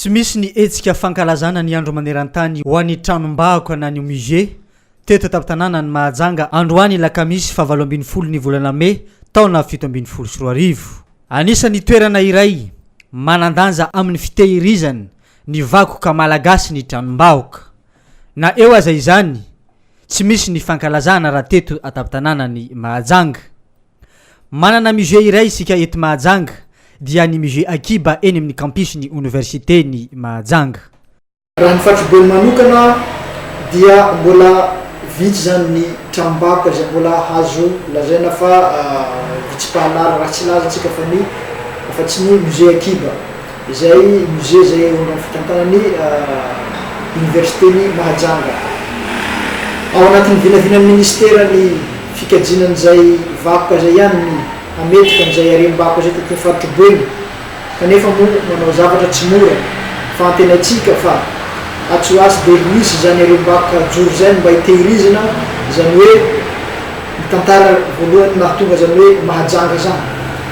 Tsy misy ny hetsika fankalazana ny andro maneran-tany ho an'ny tranom-bahoka na ny musée teto an-tampon-tanànan'i Mahajanga androany alakamisy fahavalo ambin'ny folo ny volana mey taona fito ambin'ny folo sy roa arivo. Anisan'ny toerana iray manan-danja amin'ny fitehirizana ny vakoka malagasy ny tranom-bahoka. Na eo aza izany, tsy misy ny fankalazana raha teto an-tampon-tanànan'i Mahajanga. Manana musée iray isika eto Mahajanga, dia ny musée Akiba eny amin'ny campus ny Oniversiten'i Mahajanga. Raha ny fatrobeny manokana dia mbola vitsy izany ny tranombakoka izay mbola azo lazaina fa vitsy mpahalala, raha tsy hilaza isika fa ny, afa-tsy ny musée Akiba. Izay musée izay eo andohan'ny fitantanan'ny Oniversiten'i Mahajanga. Ao anatin'ny vinavinan'ny Minisitera ny fikajiana an'izay vakoka izay ihany ny hametrika an'izay harem-bakoka izay tetin'ny faritro Boeny kanefa moa manao zavatra tsy mora fa antenaintsika fa atsy ho atsy dia hisy izany harem-bakoka hajoro izay no mba hitehirizina izany hoe Ny tantara voalohany mahatonga izany hoe Mahajanga izany.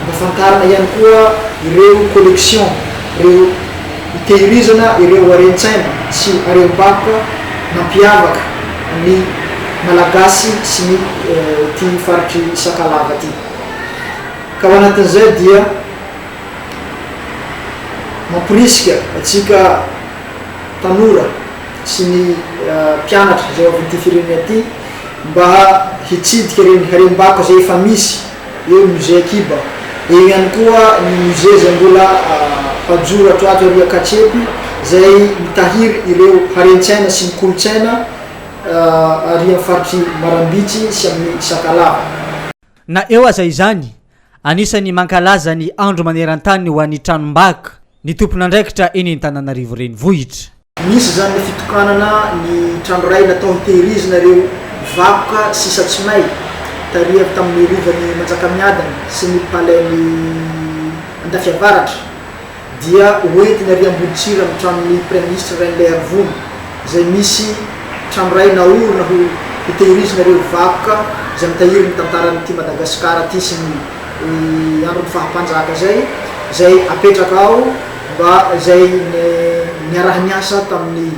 Ampafantarina ihany koa ireo collections, ireo hitehirizana ireo haren-tsaina sy harem-bakoka nampiavaka ny Malagasy sy ny ity faritr'i Sakalava ity. Ka ao anatin'izay dia mamporisika antsika tanora sy ny mpianatra izay ao avy amin'ity firenena ity, mba hitsidika ireny harem-bako izay efa misy eo ny Musée Akiba. Eo ihany koa ny musée izay mbola hajoro ato ato ery Ankatsempi izay mitahiry ireo harentsaina sy ny kolontsaina ary amin'ny faritr'i Marambitsy sy amin'ny Sakalava. Na eo aza izany, Anisan'ny mankalaza ny andro maneran-tany ho an'ny tranom-bakoka ny tompon'andraikitra eny Antananarivo Renivohitra. Nisy izany ny fitokanana ny trano iray natao hitehirizina ireo vakoka sisa tsy may, tarihany tamin'ny Rovan'i Manjakamiadana sy ny Palais-n'i Andafiavaratra. dia ho entiny ary Amboditsiry amin'ny tranon'ny Praiminisitra Rainilahiarivony izay misy trano iray naorina ho hitehirizina ireo vakoka izay mitahiry ny tantaran'ity Madagasikara ity sy ny andron'ny faha-mpanjaka izay izay apetraka ao mba izay niaraha-niasa tamin'ny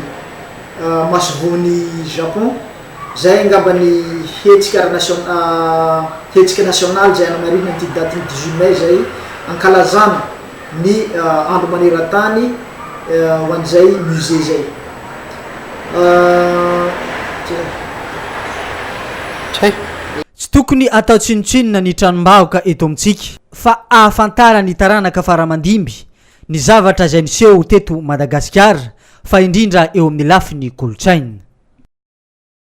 masoivohon'i Japon izay angamba ny hetsika ara-nasional hetsika nasionaly izay hanamarihina an'ity datin'ny dix-huit mai izay hankalazana ny andro maneran-tany ho an'izay musée izay. Tsy tokony atao tsinontsinona ny tranom-bahoka eto amintsika fa ahafantaran'ny taranaka faramandimby ny zavatra izay niseho teto Madagasikara fa indrindra eo amin'ny lafiny kolontsaina.